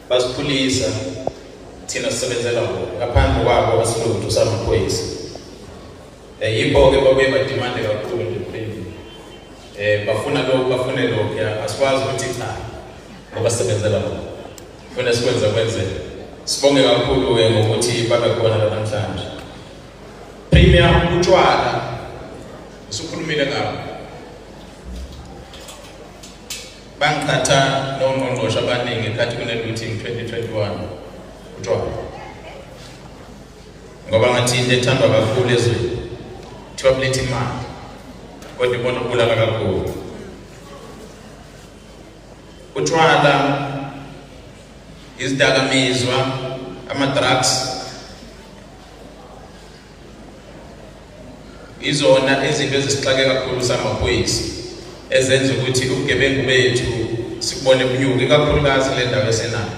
basiphulisa thina sisebenzela bona ngaphandle kwabo asilutho samaphoyisa um yibo-ke babuye badimande kakhulu nje mphindini um bafuna lokhu bafune lokhu ya asikwazi ukuthi cha ngoba sisebenzela bona funa sikwenza kwenzeka sibonge kakhulu-ke ngokuthi babe khona la namhlanje premium utshwala usukhulumile ngabo Bangiqhatha nongqongqoshe abaningi ngenkathi kune-looting 2021 utshwala ngoba ngathi into ethandwa kakhulu ezweni kuthiwa kuletha imali kodwa ibona ukubulala kakhulu utshwala izidakamizwa ama-drugs Izona izinto ezisixake kakhulu samaphoyisa ezenza ukuthi ubugebengu bethu sikubone bunyuke kakhulukazi le ndawo esenayo.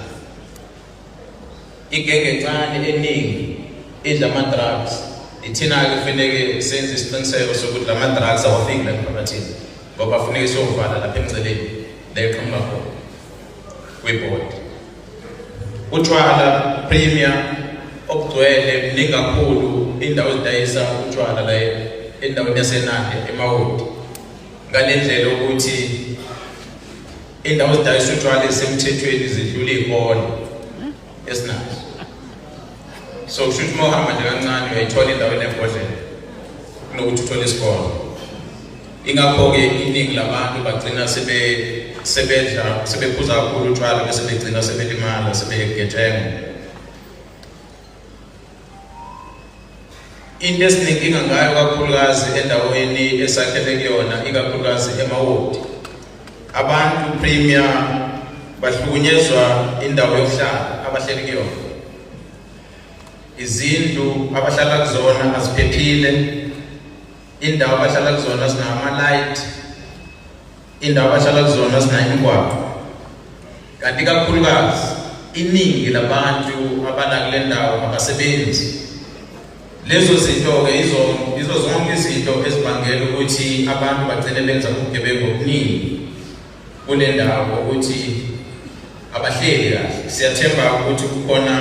Igenge encane eningi idla ama-drugs ithina-ke kufaneke senze isiqiniseko sokuthi la ma-drugs awafiki la emphakathini ngoba funeke siyovala lapha emceleni la eqhamuka khona kwibhodi Utshwala premier obugcwele mningi kakhulu indawo ezidayisa utshwala la endaweni yasenande emawodi ngale ndlela ukuthi indawo ezidayisa utshwala esemthethweni zidlula iy'kole esinazo so kusho ukuthi uma uhamba nje kancane uyayithola indawo enembodlela kunokuthi uthole isikole Ingakho-ke iningi labantu bagcina sebe sebedla sebephuza kakhulu utshwala bese begcina sebelimala sebegejenga into esinenkinga ngayo kakhulukazi endaweni esakhele kuyona ikakhulukazi emawodi abantu premier bahlukunyezwa indawo yokuhlala abahleli kuyona izindlu abahlala kuzona aziphephile indawo abahlala kuzona zinama-light indawo abahlala kuzona zinayingwaqo kanti kakhulukazi iningi labantu abala kule ndawo abasebenzi lezo zinto-ke izo izo zonke izinto ezibangela ukuthi abantu bagcine benza ubugebengu obuningi kule ndawo ukuthi abahleli kahle siyathemba ukuthi kukhona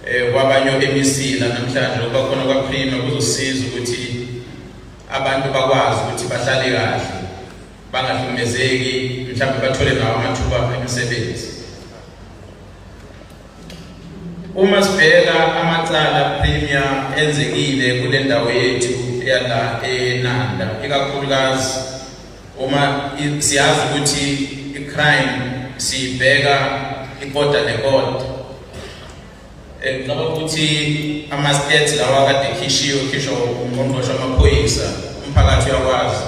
eh kwabanye emisila namhlanje ngoba khona kwa prima kuzosiza ukuthi abantu bakwazi ukuthi bahlale kahle bangahlukumezeki mhlawumbe bathole nawo amathuba emisebenzi uma sibheka amacala premium enzekile kule ndawo yethu yala enanda ikakhulukazi Uma siyazi ukuthi i-crime siyibheka ikota nekota ngicabanga eh, ukuthi ama-stats lawa kade khishiwe khisho ungqongqoshe amaphoyisa umphakathi uyakwazi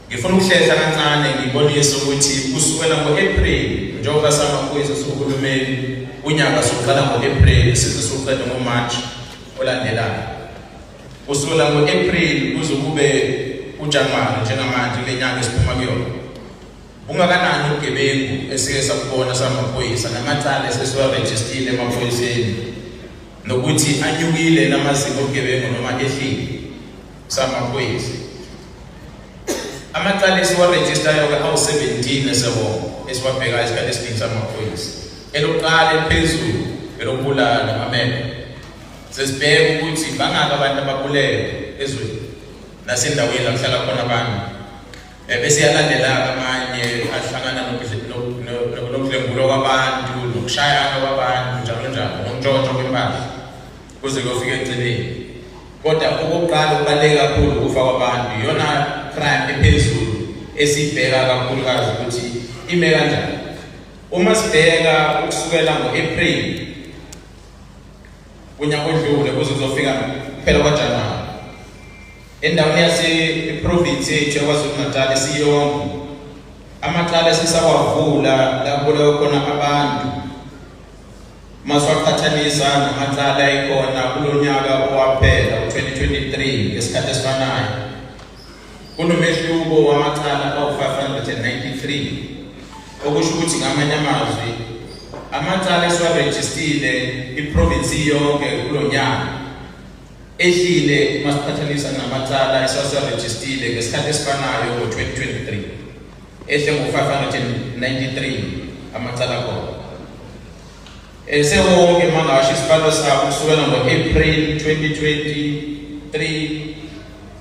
ngifuna ukuhlehla kancane ngibonise ukuthi kusukela ngo-april njengoba samaphoyisa sohulumeni unyaka soqala ngo-april size soqeda ngomarch olandelayo Kusukela ngo-April kuze kube uJanuwari njengamanje kule nyanga esiphuma kuyona ungakanani ubugebengu esike sakubona samaphoyisa namacala esesiwarejistile emaphoyiseni nokuthi anyukile namazinga obugebengu noma ehlile samaphoyisa amacala esiwarejistayo-ke awu-17 esewonke esiwabhekayo isikhathi esiningi samaphoyisa elokuqala eliphezulu elokubulala amamele Sesibheka ukuthi bangaki abantu ababulele ezweni nasendaweni la kuhlala khona abantu. Eh, bese yalandela amanye ahlangana nokudlengulwa kwabantu nokushayana kwabantu njalo njalo nokuntshontsha kwempahla kuze kuyofika egcineni. Kodwa okokuqala okubaluleke kakhulu ukufa kwabantu iyona crime ephezulu esibheka kakhulukazi ukuthi ime kanjani. Uma sibheka ukusukela ngo-April unyaka odlule kuze kuzofika kuphela kwajanuwari endaweni yaseprovinsi yethu yakwazulu-natal siyonke amacala esisawavula lakuleyo khona abantu uma siwaqhathanisa namacala ekhona kulo nyaka owaphela u-2023 ngesikhathi esifanayo Kunomehluko wamacala awu-593 okusho ukuthi ngamanye amazwi amacala esiwarejistile iprovinsi iyonke kulo nyaka ehlile uma siqhathanisa namacala esiwasiwarejistile ngesikhathi esifanayo ngo-2023 ehle ngo-593 amacala khona esewonke mangasho isibalo sabo kusukela ngo-april 2023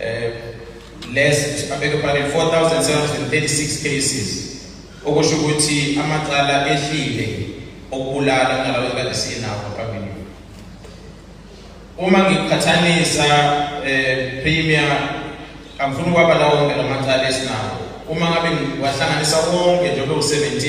eh less I beg your pardon 4736 cases okusho ukuthi amacala ehlile okubulala kunalawo ekade sinawo phambili uma ngiqhathanisa eh premier angifuni ukwaba lawo wonke lamacala esinawo uma ngabe ngiwahlanganisa wonke njengoba u17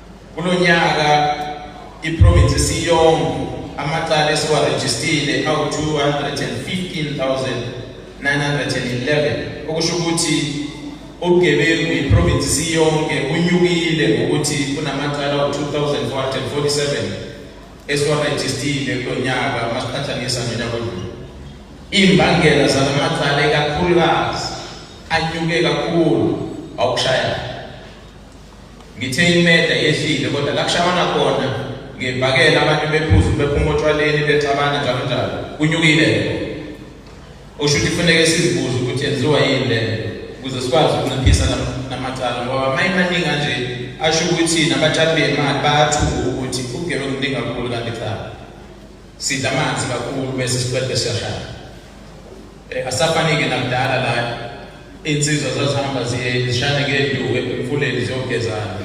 Kulo nyaka iprovince isiyonke amacala esiwarejistile awu-215,911 okusho ukuthi ubugebengu iprovince isiyonke unyukile ngokuthi kunamacala awu-2447 esiwarejistile kulo nyaka uma siqhathanisa nonyaka odlule iy'mbangela zala macala ikakhulukazi anyuke kakhulu awukushayela Ngithe imeda yehlile kodwa la kushawana khona ngebhakela abantu bephuza bephuma otshwaleni bexabana njalo njalo kunyukile lokho usho ukuthi kufuneke sizibuze ukuthi yenziwa yini le ukuze sikwazi ukunciphisa namacala ngoba mayemaningi kanje asho ukuthi nabatshali bemali bayathuka ukuthi ugebe kuningi kakhulu kanti cha sidla amanzi kakhulu bese siqede siyashaya Eh, asafanike nakudala la iy'nsizwa zazihamba zishane ngenduku emfuleni ziyogezana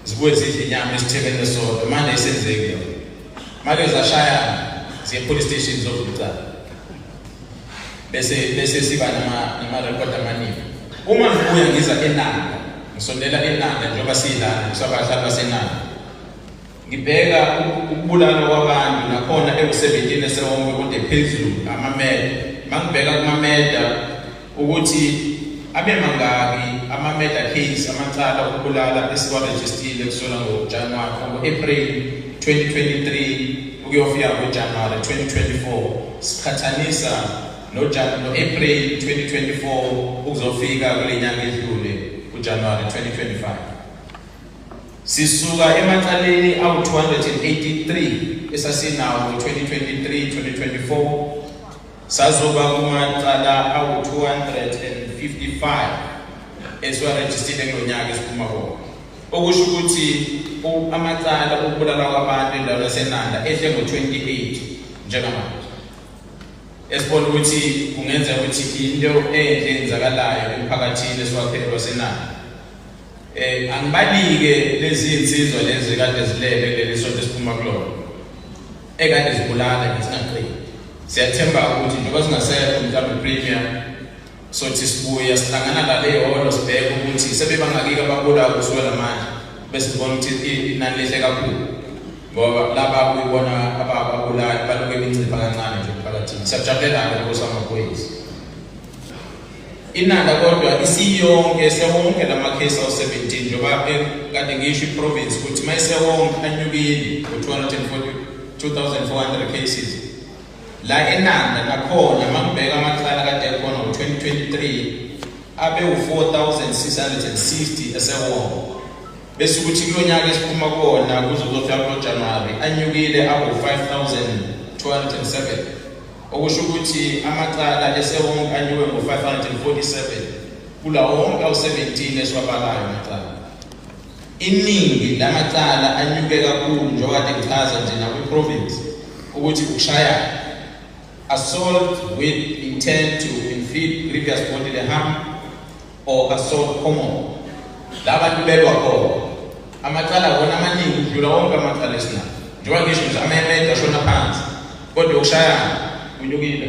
zibuye zidle inyama esithebeni esodwa manje isenzeki yona make zashayana ziye police station zovuca bese bese siba nama-record amaningi uma ngibuya ngiza enanda ngisondela enanda njengoba siyilana ngisabadlali basenanda Ngibheka ukubulala kwabantu nakhona ekusebenzini esewonke kude phezulu amameda. Mangibheka kumameda ukuthi abe mangaki amameda case amacala okubulala esiwarejistile kusona ngoJanuwari ngo-April 2023 ukuyofika ngoJanuwari 2024 siqhathanisa no-April 2024 ukuzofika kule nyanga edlule uJanuwari 2025. Sisuka emacaleni awu-283 esasinawo ngo-2023-2024 sazoba kumacala awu-255 esiwarejistile kulo nyaka esiphuma kona okusho ukuthi amacala okubulala kwabantu endaweni yasenanda ehle ngo-28 njengamanje esibona ukuthi kungenzeka ukuthi into enhle enzakalayo emphakathini esiwakhele lwasenanda Eh angibalike lezi insizwa lezi kade zilele leli sonto esiphuma kulona. Ekade zibulala ngesingaqini. Siyathemba ukuthi njengoba singasekho mhlawumbe premier sothi sibuya sihlangana la le holo sibheke ukuthi sebebangakike ababula kusukela manje bese sibona ukuthi inani lehle kakhulu ngoba laba kuyibona abababulali baloke bencipha kancane nje phakathini siyajabulela-ke nkosi amaphoyisa Inanda kodwa isiyonke sewonke lamakhesi awu-17 njengoba kade ngisho iprovince ukuthi uma isewonke anyukile ngo-242,400 cases la enanda nakhona uma ngibheka amacala kade ekhona ngo-2023 abewu-4,660 esewonke bese ukuthi kulo nyaka esiphuma kona kuze kuzofika kulo januwari anyukile awu-5,207 okusho ukuthi amacala esewonke anyuke ngo-547 kulawo wonke awu-17 esiwabalayo amacala iningi lamacala anyuke kakhulu njengoba ngichaza nje nakwi-province ukuthi ukushayana assault with intent to inflict grievous bodily harm or assault common la bantu belwa khona amacala wona amaningi udlula wonke amacala esinawo njengoba ngisho nje amemede ashona phansi kodwa yokushayana kunyukile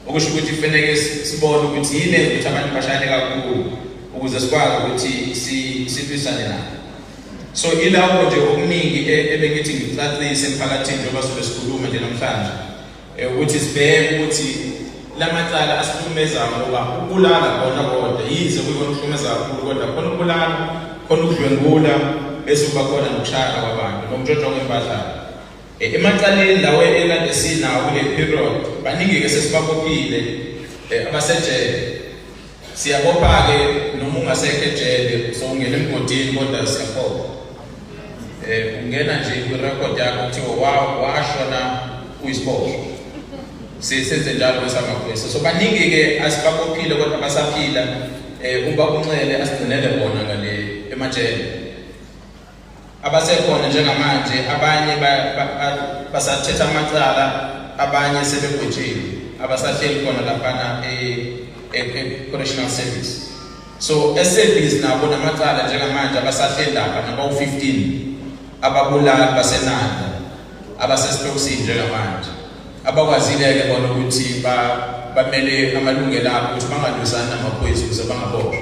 okusho ukuthi kufaneke sibone ukuthi yini enza ukuthi abantu bashayane kakhulu ukuze sikwazi ukuthi silwisane nabo so ilawo nje okuningi e-, ebengithi ngicacise emphakathini njengoba sobe sikhuluma nje namhlanje Eh, ukuthi sibheke ukuthi lamacala asihlukumeza ngoba ukulala kona kodwa yize kuyikonihlukumeza kakhulu kodwa khona ukulala khona ukudlwengula bese kuba khona nokushaya kwabantu nokutshontshwa kwempahla eh, emacaleni lawo ekade sinawo kule period baningi-ke sesibabophile eh, abasejele Siyabopha-ke noma ungasekho ejele usowungena emgodini kodwa siyabopha um eh, ungena nje kwirekhodi yakho kuthiwa washona uyisibopho sisenze njalo kwesamaphoyisa so baningi-ke asibabophile kodwa basaphila um eh, uba unxele asigcinele bona ngale emajele abasekhona njengamanje abanye basathetha amacala abanye sebegwetshile abasahleli khona laphana e-correctional service so esebhizi nabo namacala njengamanje abasahleli lapha nabawu-15 ababulali basenanda abasesitokisini njengamanje abakwazile-ke bona ukuthi bamele amalungelo abo ukuthi bangalwisani namaphoyisa ukuze bangaboshwa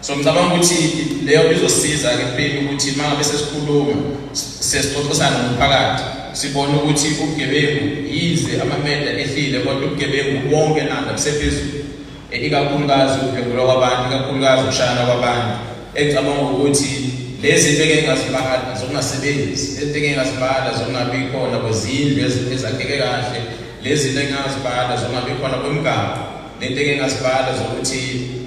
So ngicabanga ukuthi leyo nto izosiza ke phela ukuthi uma ngabe sesikhuluma sesixoxisana nomphakathi sibone ukuthi ubugebengu yize amameda ehlile kodwa ubugebengu bonke nanda busephezulu e, ikakhulukazi ukudlwengulwa kwabantu ikakhulukazi ukushayana kwabantu engicabanga ukuthi lezi into engeke ngazibala zokungasebenzi lento engeke ngazibala zokungabi khona kwezindlu ezakheke kahle lezi into engingazibala zokungabi khona kwemigaqo Lento eke ngasibala zokuthi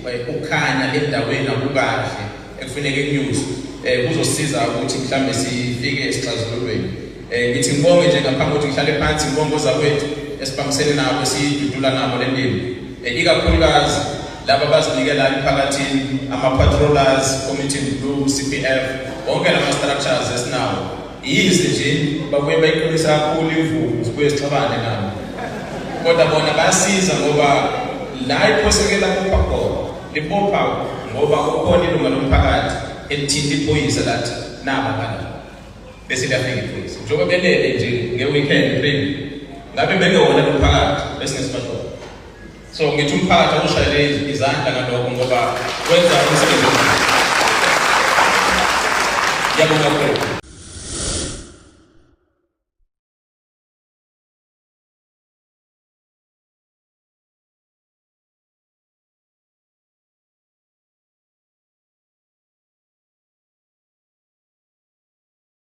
eh, ukhanya endaweni akukahle ekufuneka inyuzi eh kuzosiza ukuthi mhlambe sifike esixazululweni. Eh ngithi ngibonge nje ngaphambi kokuthi ngihlale phansi ngibonge ozakwethu esibambisene nabo sidudula nabo le ndima. Eh ikakhulukazi laba bazinikela emphakathini ama patrollers community blue CPF wonke lama structures esinawo Yize nje babuye bayiqinisa kakhulu imvubu zibuye zixabane nabo kodwa bona bayasiza ngoba la iphosekela kubopha khona libopha ngoba kukhona ilunga lomphakathi elithinta iphoyisa lathi naba ngala bese liyafika iphoyisa njengoba belele nje nge-weekend print ngabe bengewona lomphakathi bese ngesibashona So ngithi umphakathi awushayele izandla ngalokho ngoba wenza umsebenzi omkhulu. Ngiyabonga kakhulu.